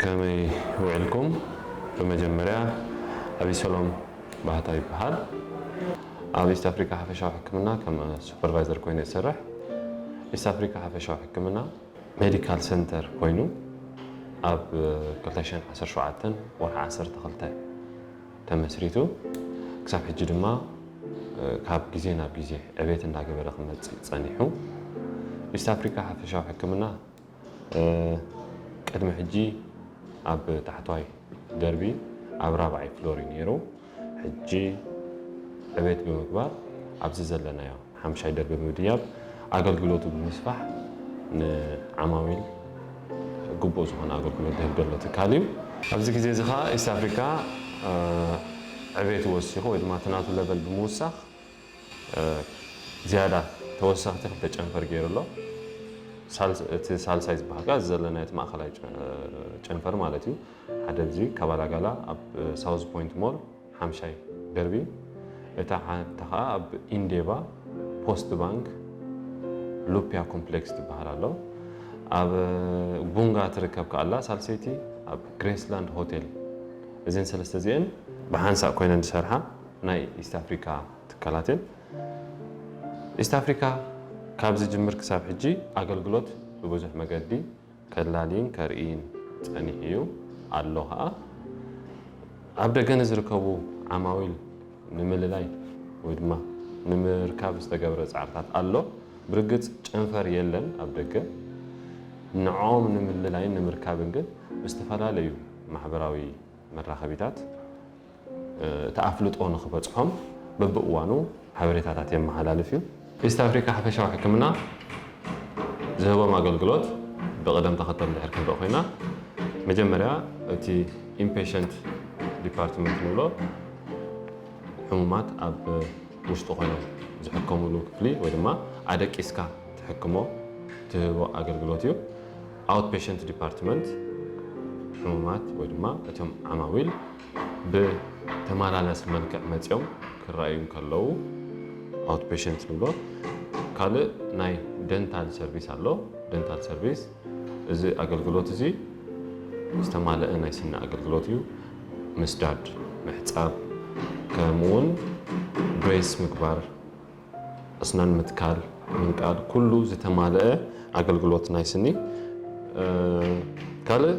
ከመይ ውዒልኩም ብመጀመርያ ኣቢሰሎም ባህታ ይበሃል ኣብ ኢስት ኣፍሪካ ሓፈሻዊ ሕክምና ከም ሱፐርቫይዘር ኮይኑ እየ ዝሰርሕ ኢስት ኣፍሪካ ሓፈሻዊ ሕክምና ሜዲካል ሰንተር ኮይኑ ኣብ 2017 ወርሒ 12 ተመስሪቱ ክሳብ ሕጂ ድማ ካብ ግዜ ናብ ግዜ ዕቤት እንዳገበረ ክመፅእ ፀኒሑ ኢስት ኣፍሪካ ሓፈሻዊ ሕክምና ቅድሚ ሕጂ ኣብ ታሕተዋይ ደርቢ ኣብ ራብዓይ ፍሎር እዩ ነይሩ። ሕጂ ዕቤት ብምግባር ኣብዚ ዘለናዮ ሓምሻይ ደርቢ ብምድያብ ኣገልግሎቱ ብምስፋሕ ንዓማዊል ግቡእ ዝኾነ ኣገልግሎት ዝህብ ዘሎ ትካል እዩ። ኣብዚ ግዜ እዚ ከኣ ኢስት ኣፍሪካ ዕቤቱ ወሲኹ ወይ ድማ እቲ ናቱ ለቨል ብምውሳኽ ዝያዳ ተወሰኽቲ ክልተ ጨንፈር ገይሩ ኣሎ። እቲ ሳልሳይ ዝበሃል ከኣ እዚ ዘለናዮ እቲ ማእኸላይ ጨንፈር ማለት እዩ። ሓደ እዚ ካባላጋላ ኣብ ሳውዝ ፖይንት ሞል ሓምሻይ ደርቢ፣ እታ ሓንቲ ከኣ ኣብ ኢንዴቫ ፖስት ባንክ ሉፕያ ኮምፕሌክስ ትበሃል ኣሎ። ኣብ ጉንጋ ትርከብ ከኣ ኣላ ሳልሰይቲ ኣብ ግሬስላንድ ሆቴል። እዘን ሰለስተ እዚኤን ብሓንሳእ ኮይነን ዝሰርሓ ናይ ኢስት ኣፍሪካ ትካላትን ኢስት ኣፍሪካ ካብ ዝጅምር ክሳብ ሕጂ ኣገልግሎት ብብዙሕ መገዲ ከላልይን ከርእይን ፀኒሑ እዩ ኣሎ ከዓ ኣብ ደገ ንዝርከቡ ዓማዊል ንምልላይ ወይ ድማ ንምርካብ ዝተገብረ ፃዕርታት ኣሎ ብርግፅ ጨንፈር የለን ኣብ ደገ ንዖም ንምልላይን ንምርካብን ግን ብዝተፈላለዩ ማሕበራዊ መራኸቢታት እቲ ኣፍልጦ ንኽበፅሖም በቢእዋኑ ሓበሬታታት የመሓላልፍ እዩ። ኢስት ኣፍሪካ ሓፈሻዊ ሕክምና ዝህቦም ኣገልግሎት ብቕደም ተኸተል እንድሕር ክንርኢ ኮይና መጀመርያ እቲ ኢንፔሸንት ዲፓርትመንት ንብሎ ሕሙማት ኣብ ውሽጢ ኮይኖም ዝሕከሙሉ ክፍሊ ወይ ድማ ኣደቂስካ ትሕክሞ ትህቦ ኣገልግሎት እዩ። ኣውትፔሸንት ዲፓርትመንት ሕሙማት ወይ ድማ እቶም ዓማዊል ብተመላላሲ መልክዕ መፅዮም ክረኣዩ እንከለዉ ኣውት ፔሸንት ንብሎ። ካልእ ናይ ደንታል ሰርቪስ ኣሎ። ደንታል ሰርቪስ እዚ ኣገልግሎት እዚ ዝተማለአ ናይ ስኒ ኣገልግሎት እዩ። ምስዳድ፣ ምሕፃብ ከምኡውን ብሬስ ምግባር ኣስናን ምትካል፣ ምንቃል ኩሉ ዝተማለኣ ኣገልግሎት ናይ ስኒ። ካልእ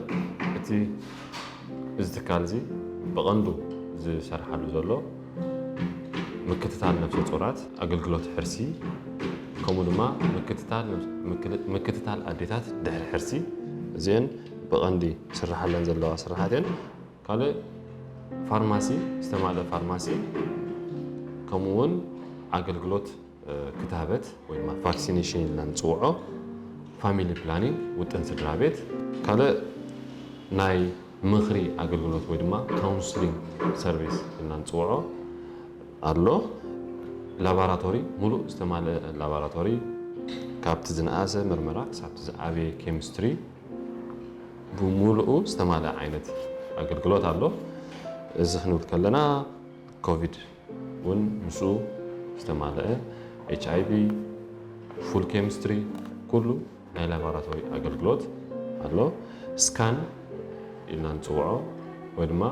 እቲ እዚ ትካል እዚ ብቐንዱ ዝሰርሓሉ ዘሎ ምክትታል ነብሰ ጾራት፣ ኣገልግሎት ሕርሲ ከምኡ ድማ ምክትታል ኣዴታት ድሕሪ ሕርሲ እዚኤን ብቐንዲ ዝስራሓለን ዘለዋ ስራሓት እየን። ካልእ ፋርማሲ ዝተማልእ ፋርማሲ ከምኡ እውን ኣገልግሎት ክታበት ወይ ድማ ቫክሲኔሽን ኢልና ንፅውዖ ፋሚሊ ፕላኒንግ ውጥን ስድራ ቤት ካልእ ናይ ምኽሪ ኣገልግሎት ወይ ድማ ካውንስሊንግ ሰርቪስ ኢልና ንፅውዖ ኣሎ ላቦራቶሪ ሙሉእ ዝተማልአ ላቦራቶሪ ካብቲ ዝነኣሰ ምርመራ ክሳብቲ ዝዓበየ ኬሚስትሪ ብሙሉኡ ዝተማልኣ ዓይነት ኣገልግሎት ኣሎ። እዚ ክንብል ከለና ኮቪድ እውን ምስኡ ዝተማልአ፣ ኤች ኣይ ቪ፣ ፉል ኬሚስትሪ ኩሉ ናይ ላቦራቶሪ ኣገልግሎት ኣሎ። ስካን ኢልና ንፅውዖ ወይ ድማ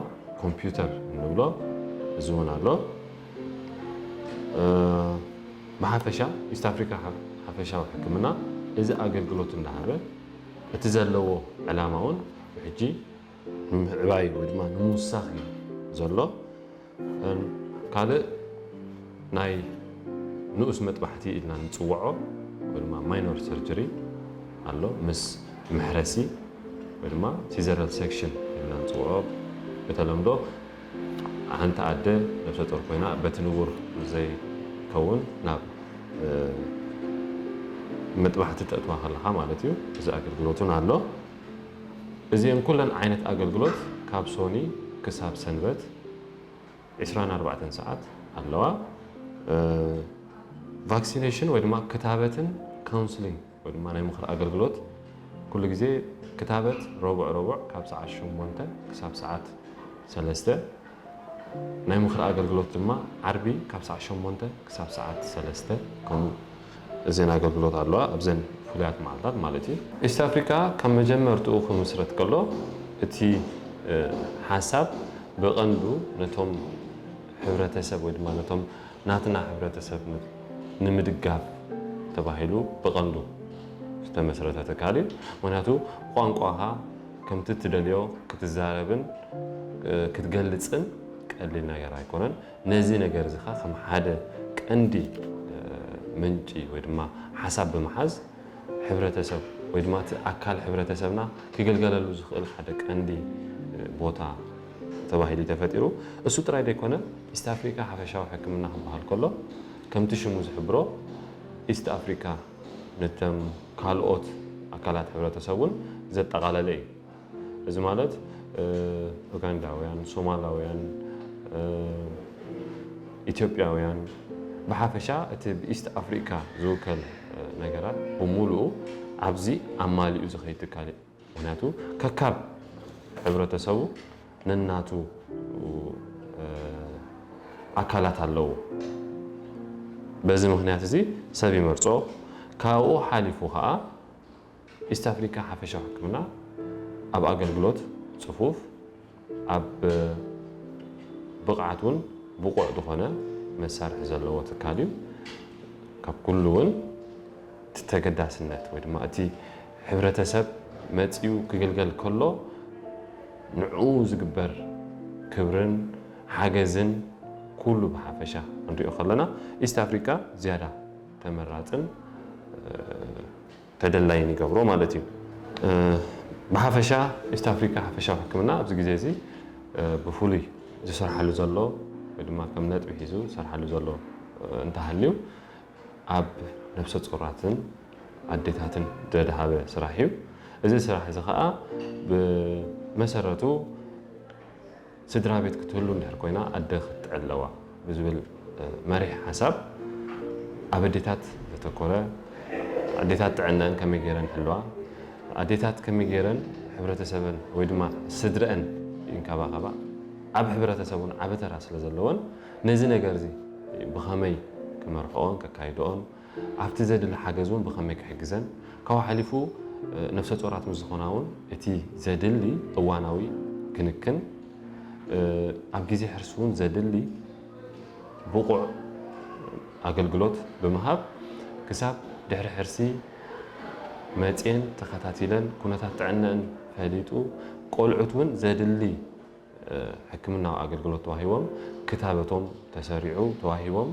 ኮምፒውተር እንብሎ እዚ እውን ኣሎ። ብሓፈሻ ኢስት ኣፍሪካ ሓፈሻዊ ሕክምና እዚ ኣገልግሎት እንዳሃበ እቲ ዘለዎ ዕላማ እውን ብሕጂ ንምዕባይ ወይ ድማ ንምውሳኽ እዩ ዘሎ ካልእ ናይ ንኡስ መጥባሕቲ ኢልና ንፅወዖ ወይ ድማ ማይኖር ሰርጀሪ ኣሎ ምስ መሕረሲ ወይ ድማ ሲዘራል ሴክሽን ኢልና ንፅውዖ ብተለምዶ ሓንቲ ኣደ ነብሰጾር ኮይና በቲ ንቡር ዘይከውን ናብ መጥባሕቲ ተእትዋ ከለኻ ማለት እዩ እዚ ኣገልግሎት እውን ኣሎ። እዚኤን ኩለን ዓይነት ኣገልግሎት ካብ ሶኒ ክሳብ ሰንበት ዕስራን ኣርባዕተን ሰዓት ኣለዋ። ቫክሲነሽን ወይ ድማ ክታበትን ካውንስሊንግ ወይ ድማ ናይ ምኽሪ ኣገልግሎት ኩሉ ግዜ ክታበት ረቡዕ ረቡዕ ካብ ሰዓት ሸሞንተ ክሳብ ሰዓት ሰለስተ ናይ ምኽሪ ኣገልግሎት ድማ ዓርቢ ካብ ሰዓት ሸሞንተ ክሳብ ሰዓት ሰለስተ ከምኡ እዘን ኣገልግሎት ኣለዋ ኣብዘን ፍሉያት መዓልታት ማለት እዩ ኢስት ኣፍሪካ ካብ መጀመርትኡ ክምስረት ከሎ እቲ ሓሳብ ብቐንዱ ነቶም ሕብረተሰብ ወይ ድማ ነቶም ናትና ሕብረተሰብ ንምድጋፍ ተባሂሉ ብቐንዱ ዝተመስረተ ትካል እዩ። ምኽንያቱ ቋንቋኻ ከምቲ እትደልዮ ክትዛረብን ክትገልፅን ቀሊል ነገር ኣይኮነን። ነዚ ነገር እዚ ኸዓ ከም ሓደ ቀንዲ ምንጪ ወይ ድማ ሓሳብ ብምሓዝ ሕብረተሰብ ወይ ድማ እቲ ኣካል ሕብረተሰብና ክግልገለሉ ዝኽእል ሓደ ቀንዲ ቦታ ተባሂሉ ተፈጢሩ። እሱ ጥራይ ዘይኮነ ኢስት ኣፍሪካ ሓፈሻዊ ሕክምና ክበሃል ከሎ ከምቲ ሽሙ ዝሕብሮ ኢስት ኣፍሪካ ነተም ካልኦት ኣካላት ሕብረተሰብ እውን ዘጠቓለለ እዩ። እዚ ማለት ኡጋንዳውያን፣ ሶማላውያን፣ ኢትዮጵያውያን ብሓፈሻ እቲ ብኢስት ኣፍሪካ ዝውከል ነገራት ብሙሉኡ ኣብዚ ኣማሊኡ ዝኸይድ ትካል እዩ። ምክንያቱ ከካብ ሕብረተሰቡ ነናቱ ኣካላት ኣለዎ። በዚ ምክንያት እዚ ሰብ ይመርጾ። ካብኡ ሓሊፉ ከኣ ኢስት ኣፍሪካ ሓፈሻዊ ሕክምና ኣብ ኣገልግሎት ጽፉፍ ኣብ ብቕዓት እውን ብቑዕ ዝኾነ መሳርሒ ዘለዎ ትካል እዩ። ካብ ኩሉ እውን እቲ ተገዳስነት ወይ ድማ እቲ ሕብረተሰብ መፂኡ ክግልገል ከሎ ንዕኡ ዝግበር ክብርን ሓገዝን ኩሉ ብሓፈሻ ክንሪኦ ከለና ኢስት ኣፍሪቃ ዝያዳ ተመራፅን ተደላይን ይገብሮ ማለት እዩ። ብሓፈሻ ኢስት ኣፍሪካ ሓፈሻዊ ሕክምና ኣብዚ ግዜ እዚ ብፍሉይ ዝስርሓሉ ዘሎ ወይ ድማ ከም ነጥቢ ሒዙ ዝሰርሓሉ ዘሎ እንተሃልዩ ኣብ ነብሰ ፁራትን ኣዴታትን ዘድሃበ ስራሕ እዩ። እዚ ስራሕ እዚ ከዓ ብመሰረቱ ስድራ ቤት ክትህሉ እንድሕር ኮይና ኣደ ክትጥዕር ኣለዋ ብዝብል መሪሕ ሓሳብ ኣብ ኣዴታት ዘተኮረ ኣዴታት ጥዕነን ከመይ ገይረን ይሕልዋ፣ ኣዴታት ከመይ ገይረን ሕብረተሰበን ወይ ድማ ስድረአን ይንከባኸባ፣ ኣብ ሕብረተሰብ እውን ዓቢ ተራ ስለ ዘለወን ነዚ ነገር እዚ ብኸመይ ክመርሕኦን ከካይድኦን ኣብቲ ዘድሊ ሓገዝ እውን ብኸመይ ክሕግዘን፣ ካብኡ ሓሊፉ ነፍሰ ጾራት ምስ ዝኾና እውን እቲ ዘድሊ እዋናዊ ክንክን፣ ኣብ ግዜ ሕርሲ እውን ዘድሊ ብቑዕ ኣገልግሎት ብምሃብ ክሳብ ድሕሪ ሕርሲ መጽየን ተኸታቲለን ኩነታት ጥዕነኣን ፈሊጡ ቆልዑት እውን ዘድሊ ሕክምናዊ ኣገልግሎት ተዋሂቦም ክታበቶም ተሰሪዑ ተዋሂቦም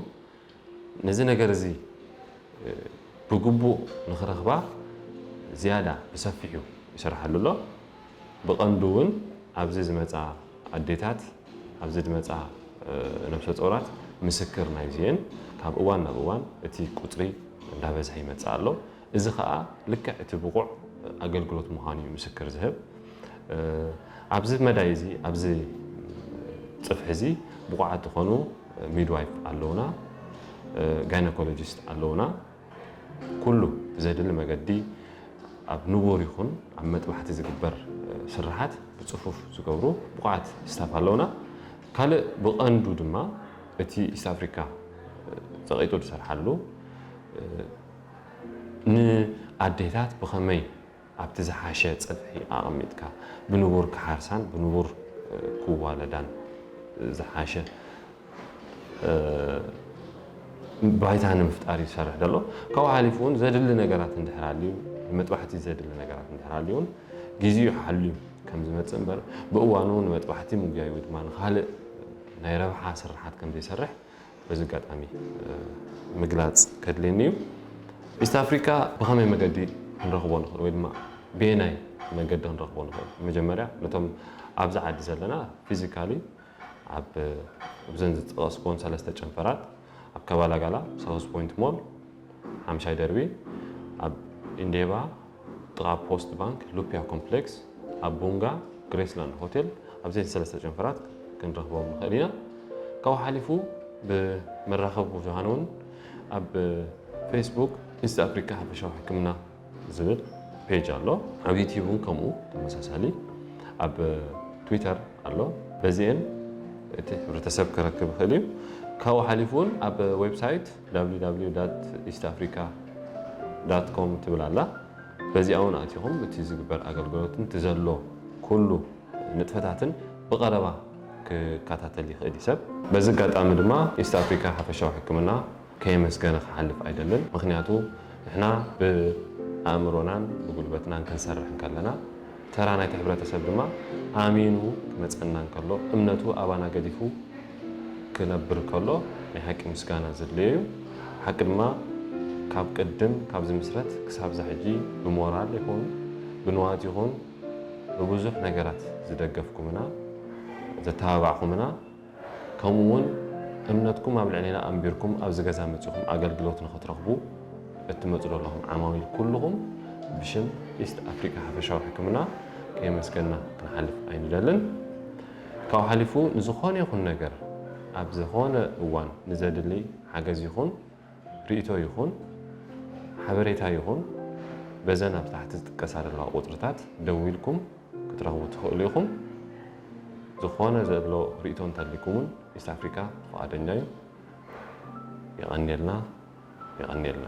ነዚ ነገር እዚ ብግቡእ ንኽረኽባ ዝያዳ ብሰፊሑ ይስርሓሉ ኣሎ። ብቐንዱ እውን ኣብዚ ዝመጻ ኣዴታት፣ ኣብዚ ዝመጻ ነብሰጾራት ምስክር ናይዚ እየን። ካብ እዋን ናብ እዋን እቲ ቁጽሪ እንዳበዝሐ ይመጽእ ኣሎ። እዚ ከኣ ልክዕ እቲ ብቑዕ ኣገልግሎት ምዃኑ እዩ ምስክር ዝህብ። ኣብዚ መዳይ እዚ ኣብዚ ጽፍሒ እዚ ብቑዓት ዝኾኑ ሚድዋይፍ ኣለውና፣ ጋይናኮሎጂስት ኣለውና። ኩሉ ብዘድሊ መገዲ ኣብ ንቡር ይኹን ኣብ መጥባሕቲ ዝግበር ስርሓት ብጽፉፍ ዝገብሩ ብቑዓት ስታፍ ኣለውና። ካልእ ብቐንዱ ድማ እቲ ኢስት ኣፍሪካ ጸቒጡ ዝሰርሓሉ ንኣዴታት ብኸመይ ኣብቲ ዝሓሸ ጽፍሒ ኣቐሚጥካ ብንቡር ክሓርሳን ብንቡር ክዋለዳን ዝሓሸ ባይታ ንምፍጣር እዩ ዝሰርሕ ዘሎ። ካብኡ ሓሊፉ እውን ዘድሊ ነገራት እንድሕር ኣልዩ ንመጥባሕቲ ዘድሊ ነገራት እንድሕር ኣልዩ እውን ግዜኡ ሓልዩ ከም ዝመጽእ እምበር ብእዋኑ ንመጥባሕቲ ምጉያይ ወይ ድማ ንኻልእ ናይ ረብሓ ስርሓት ከም ዘይሰርሕ በዚ ኣጋጣሚ ምግላፅ ከድልየኒ እዩ። ኢስት ኣፍሪካ ብኸመይ መገዲ ክንረኽቦ ንኽእል ወይ ድማ በየናይ መገዲ ክንረኽቦ ንኽእል? መጀመርያ ነቶም ኣብዚ ዓዲ ዘለና ፊዚካሊ ኣብ እብዘን ዝጠቐስክወን ሰለስተ ጨንፈራት ኣብ ከባላጋላ፣ ሳውዝ ፖይንት ሞል ሓምሻይ ደርቢ፣ ኣብ ኢንዴባ፣ ጥቓ ፖስት ባንክ ሉፒያ ኮምፕሌክስ ኣብ ቡንጋ ግሬስላንድ ሆቴል ኣብ ዘይቲ ሰለስተ ጨንፈራት ክንረኽቦም ንኽእል ኢና ካብኡ ሓሊፉ ብመራኸቢ ብዙሃን እውን ኣብ ፌስቡክ ኢስት ኣፍሪካ ሓፈሻዊ ሕክምና ዝብል ፔጅ ኣሎ ኣብ ዩትዩብ እውን ከምኡ ተመሳሳሊ ኣብ ትዊተር ኣሎ በዚኤን እቲ ሕብረተሰብ ክረክብ ይኽእል እዩ ካብኡ ሓሊፉ እውን ኣብ ዌብሳይት ww ዳት ኢስት ኣፍሪካ ዳት ኮም ትብል ኣላ በዚኣ ውን ኣቲኹም እቲ ዝግበር ኣገልግሎትን እቲ ዘሎ ኩሉ ንጥፈታትን ብቐረባ ክከታተል ይኽእል እዩ ሰብ። በዚ ኣጋጣሚ ድማ ኢስት ኣፍሪካ ሓፈሻዊ ሕክምና ከየመስገነ ክሓልፍ ኣይደልን ምኽንያቱ ንሕና ብኣእምሮናን ብጉልበትናን ክንሰርሕ እንከለና ተራ ናይቲ ሕብረተሰብ ድማ ኣሚኑ ክመጸና እንከሎ፣ እምነቱ ኣባና ገዲፉ ክነብር ከሎ ናይ ሓቂ ምስጋና ዘድልዮ እዩ። ሓቂ ድማ ካብ ቅድም ካብ ዝምስረት ክሳብ እዛ ሕጂ ብሞራል ይኹን ብንዋት ይኹን ብብዙሕ ነገራት ዝደገፍኩምና ዘተባባዕኹምና፣ ከምኡ ውን እምነትኩም ኣብ ልዕሌና ኣንቢርኩም ኣብዚ ገዛ መጺኹም ኣገልግሎት ንኽትረኽቡ እትመጹ ዘለኹም ዓማዊል ኩሉኹም ብሽም ኢስት ኣፍሪቃ ሓፈሻዊ ሕክምና ከየመስገንና ክንሓልፍ ኣይንደልን። ካብኡ ሓሊፉ ንዝኾነ ይኹን ነገር ኣብ ዝኾነ እዋን ንዘድሊ ሓገዝ ይኹን ርእይቶ ይኹን ሓበሬታ ይኹን በዘን ኣብ ታሕቲ ዝጥቀሳ ዘለዋ ቁጽርታት ደዊልኩም ክትረኽቡ ትኽእሉ ኢኹም። ዝኾነ ዘሎ ርእይቶ እንተልይኩም ውን ኢስት ኣፍሪካ ፍቓደኛ ዩ። የቐንየልና የቐንየልና።